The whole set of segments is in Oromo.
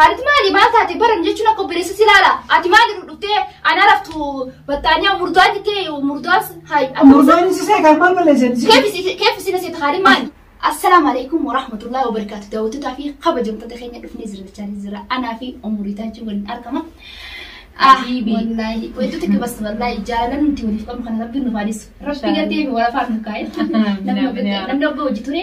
Haati maali maal taate baran jechuun akka obboleessatti ilaala. Ati maal irra dhuftee ana raftu battaanyaa murdaan jettee murdaan hayi. Murdaan si seeqa kan maal balleessan? Keef isin seeta haadhi maali? Assalaamu alaikum wa rahmatullahi wa barakaatu daawwattoota fi kabajamtoota keenya dhufnee jira jechaa jira anaa fi umurii taachuu waliin argama. Habibi. Wallaahi wantoota akka basta wallaahi jaalala nuti waliif qabnu kana rabbiin nu faalisu. Rabbi gaddee fi walafaan nu kaa'e. Namni hojii ture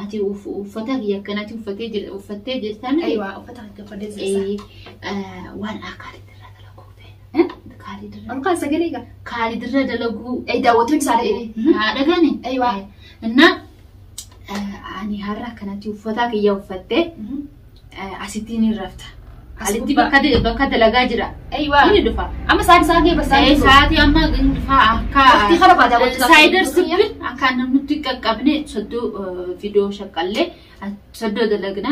Ati uffata kiyya akkanatti uffattee jirtan. Aywa uffata kan gabbadee jirta. Waan Kaalid irraa dalaguu ta'e. Kaalid irraa. Alkaa sagalee gaa. Kaalid irraa dalaguu. Ay daawwattoon isaa dhagee. Haa dhagani. Aywa. Innaa ani har'a akkanatti uffata kiyya uffattee. Asitti ni rafta. As Alitti gubbaa. bakka de- bakka dalagaa jira. Eeywaa. Inni dhufa. Amma sa'aatii isaa ga'e basaa Ee, sa'aatii amma inni dhufa akka Waqtii kana baadaa waqtii kana saayidar baadaa. sibbin akka namnutti qaqqabne soddoo eh, fidoo shaqqallee eh, soddoo dalagna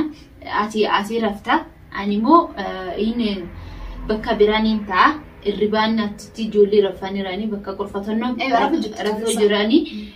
ati asii rafta ani immoo eh, inni bakka biraan hin ta'a irribaan achitti ijoollee rafanii jiranii bakka qurfatannoo Ee, rafu jirti. rafuu jiranii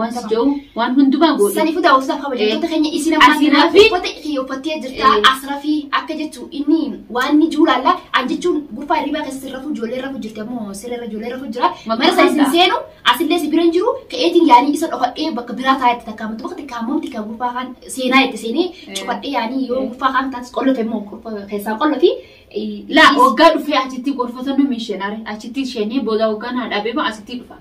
Waan si jedhu waan hundumaa goone. Sani futa usa kabajamtoota keenya isin ammaa Asii kanaa rafi. uffata kiyya uffattee jirta Eh. as rafi akka jechu inni waan inni jiru laalla an jechuun gubbaa hirribaa keessa sirra rafu ijoollee rafu jirti ammoo sirra irra ijoollee rafu jira Maqaa mana sana isin hundaa. seenu asillee si bira hin jiru ka'eetiin yaanii isa dhokadhee bakka biraa taa'etti takkaa matu bakka takkaa mamti kan gubbaa kaan seenaa itti seenee Eh. cufadhee yaanii yoo Eh. gubbaa kaan taatis qollofe immoo qollofe keessaa qollofi Laa waggaa dhufee achitti gorfatan nu miishenaare achitti isheenii booda waggaa naa dhabeema asitti dhufa.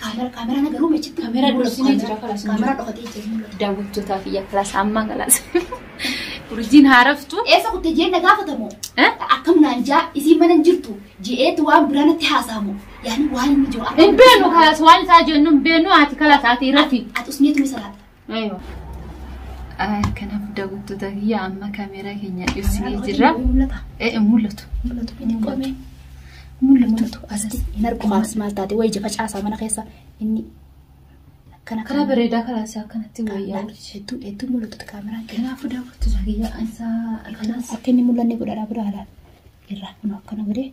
Kaamera kaameraan garuu machi Kaamera dursinee jira, kalas. Kaamera dhokatee jira hin mul'atu. Daawwattootaa fi yakkalas ammaa kalas. Urjiin haaraftu. Eessa kutte jeen na gaafatamu. Eh? Akkam naan jaa isiin mana hin jirtu je'eetti waan biraa natti haasa'amu. Yaani waan inni jiru Hin beenu kalas waan isaa jennu hin beenu ati kalas ati irratti. Ati usneetu ni salaata. Aywa. Kanaaf daawwattoota kiyya amma kaameeraa keenya dhiyeessinee jirra. Eh, hin mul'atu. Mul'atu asitti hin argu maalas maal taate wayi jafa caasaa mana keessa inni akkana Karaa bareedaa karaa isaa akkanatti wayyaa. hedduu hedduu mul'atu kaameraan keenya. Kanaafuu daawwattoota kiyya isaa Kanaaf akka inni mul'anne godhadhaa bira halaan irraa kun akkana godhee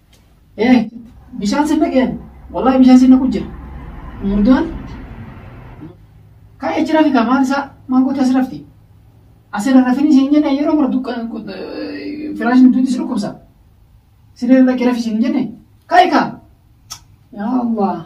Ee bishaan sinna qeenu. Wallahi bishaan sinna kun jira. Murdaan. Ka'ee jira fi kamaan isaa maangoo taasisa rafti. Asirra rafin isin jenne yeroo mara dukkan firaashin duuti si dhukkubsa. Siree irra kee rafi isin jenne. Ka'e kaa. Yaa Allah.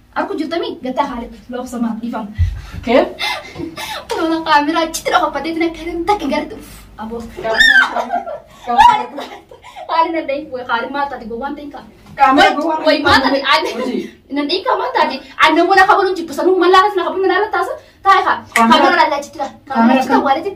Arku jirtami gataa haalit loobsa maaf dhiifam. Kee? Kunoona kaameraa achitti dhokaffatee tina kanan takka gartu. Aboo. Haalin nan dhahin way haalin maal taate gowwaan ta'in kaa. Kaameraa gowwaa Way maal taate aannan. Hojii. Nan dhahin kaa maal taate aannan wala kabaluun jibbisanuu mallaa kana kabaluun mallaa taasa taa'e kaa. Kaameraa- Kaameraa lallaa achitti kaa. Kaameraa Kaameraa achitti kan- awwaaletin.